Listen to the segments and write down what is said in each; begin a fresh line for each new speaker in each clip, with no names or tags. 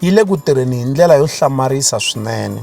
yi le ku tirheni hi ndlela yo hlamarisa swinene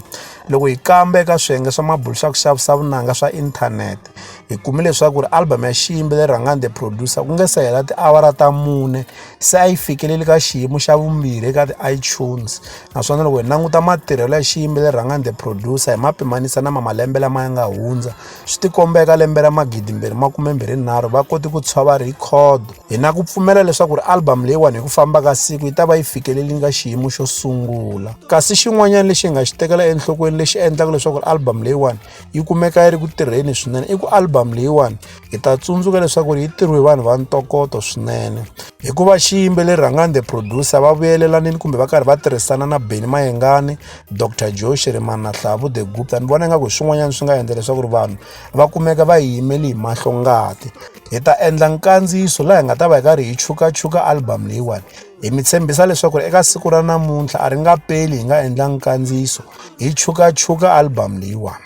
loko hi kamba eka swiyenge swa mabulu swa ku xavisa vunanga swa inthanete hi kume leswaku ri album ya xiyimbi leri rhangani the producer ku nge se hela tiawara ta mune se a yi fikeleli ka xiyimo xa vumbirhi eka ti-itunes naswona loko hi languta matirhelo ya xiyimbi leri rhangani the producer hi ma pimanisa na ma malembe lama ya nga hundza swi tikomba eka lembe ra magidimbirhi makumembirhinharhu va kote ku tshwava rhikhodo hi na ku pfumela leswaku ri albhamu leyiwani hi ku famba ka siku yi ta va yi fikeleli nga xiyimo xo sungula kasi xin'wanyana lexi hi nga xi tekela enhlokweni lexi endlaka leswaku ri albhamu leyiwani yi kumeka yi ri ku tirheni swinene i ku albhamu leyiwani hi ta tsundzuka leswaku ri yi tirhiwe vanhu va ntokoto swinene hikuva xiyimbeleri rhangani the producer va vuyelela vaneni kumbe va karhi va tirhisana na beni mayengani dr joe shirimana hlavu the gupta ni vona ingaku hi swin'wanyana swi nga endla leswaku ri vanhu va kumeka va yi yimeli hi mahlo ngati hi ta endla nkandziyiso laha hi nga ta va hi karhi hi chukachuka album leyiwani hi mi tshembisa leswaku ri eka siku ra namuntlha a ri nga peli hi nga endla nkandziyiso hi chukachuka album leyiwani